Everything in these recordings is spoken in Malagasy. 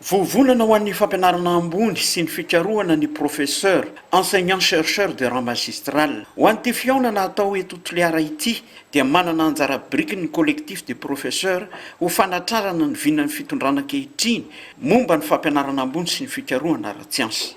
Vovonana ho an'ny fampianarana ambony sy ny fikarohana ny Professeur, Enseignant Chercheur de Rang Magistral. Ho an'ity fihaonana hatao eto Toliara ity dia manana anjara biriky ny Collectif des Professeurs ho fanatrarana ny vinan'ny fitondrana ankehitriny momba ny fampianarana ambony sy ny fikarohana ara-tsiansa.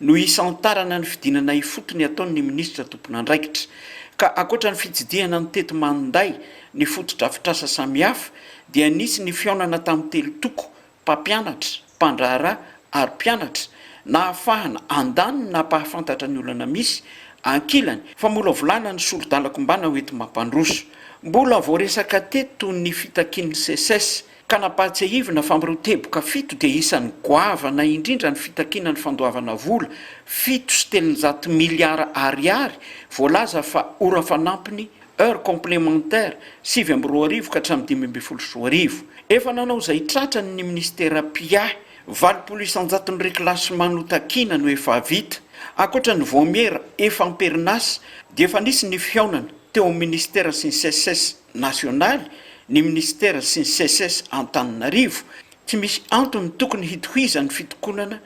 no hisantarana ny fidinana ifotony ataon'ny minisitra tompon'andraikitra, ka ankoatra ny fitsidihana ny tety manday ny fotodrafitrasa samihafa dia nisy ny fihaonana tamin'ny telo toko, mpampianatra, mpandraharaha ary mpianatra, nahafahana handany ny nampahafantatra ny olana misy, ankilany, famolavolana ny soridalan-kombana hoenti-mampandroso. Mbola voaresaka teto ny fitakian'ny Seces, Ka nampahatsiahivina fa amin'ireo teboka fito dia isan'ny goavana indrindra ny fitakiana ny fandoavana vola fito sy telonjato miliara Ariary voalaza fa ora fanampiny, heures complémentaires, sivy amby roa arivo ka hatramin'ny dimy ambin'ny folo sy roa arivo. Efa nanao izay tratrany ny minisitera mpiahy, valopolo isanjaton'ny reclassement notakiana no efa vita. Ankoatra ny vaomiera efa am-perinasa dia efa nisy ny fihaonana teo amin'ny minisitera sy ny Seces. nasionaly, ny minisitera sy ny Seces Antananarivo, tsy misy antony tokony hitohizan'ny fitokonana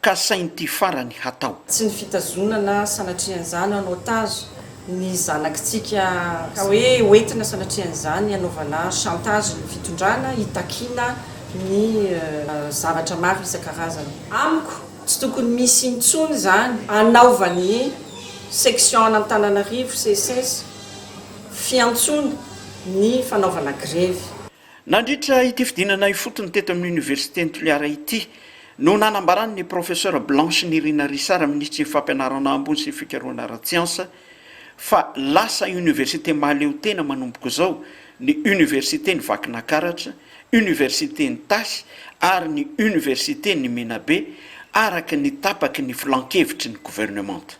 ka sain'ity farany hatao. Tsy ny fitazonana sanatrian'izany en otage ny zanakitsika ka hoe hoentina sanatrian'izany hanaovana chantage ny fitondrana hitakiana ny zavatra maro isan-karazany. Amiko tsy tokony misy intsony izany anaovan'ny section an'Antananarivo, Seces, fiantsoana ny fanaovana grevy. Nandritra ity fidinana ifotony teto amin'ny Oniversiten'i Toliara ity no nanambaran'ny Professeur Blanche Nirina Risara, Minisitry ny Fampianarana ambony sy ny Fikarohana ara-tsiansa, fa lasa Oniversite mahaleotena manomboka izao ny Oniversiten'i Vakinakaratra, Oniversiten'i Tasy ary ny Oniversiten'i Menabe, araka ny tapaky ny Filan-kevitry ny Governemanta.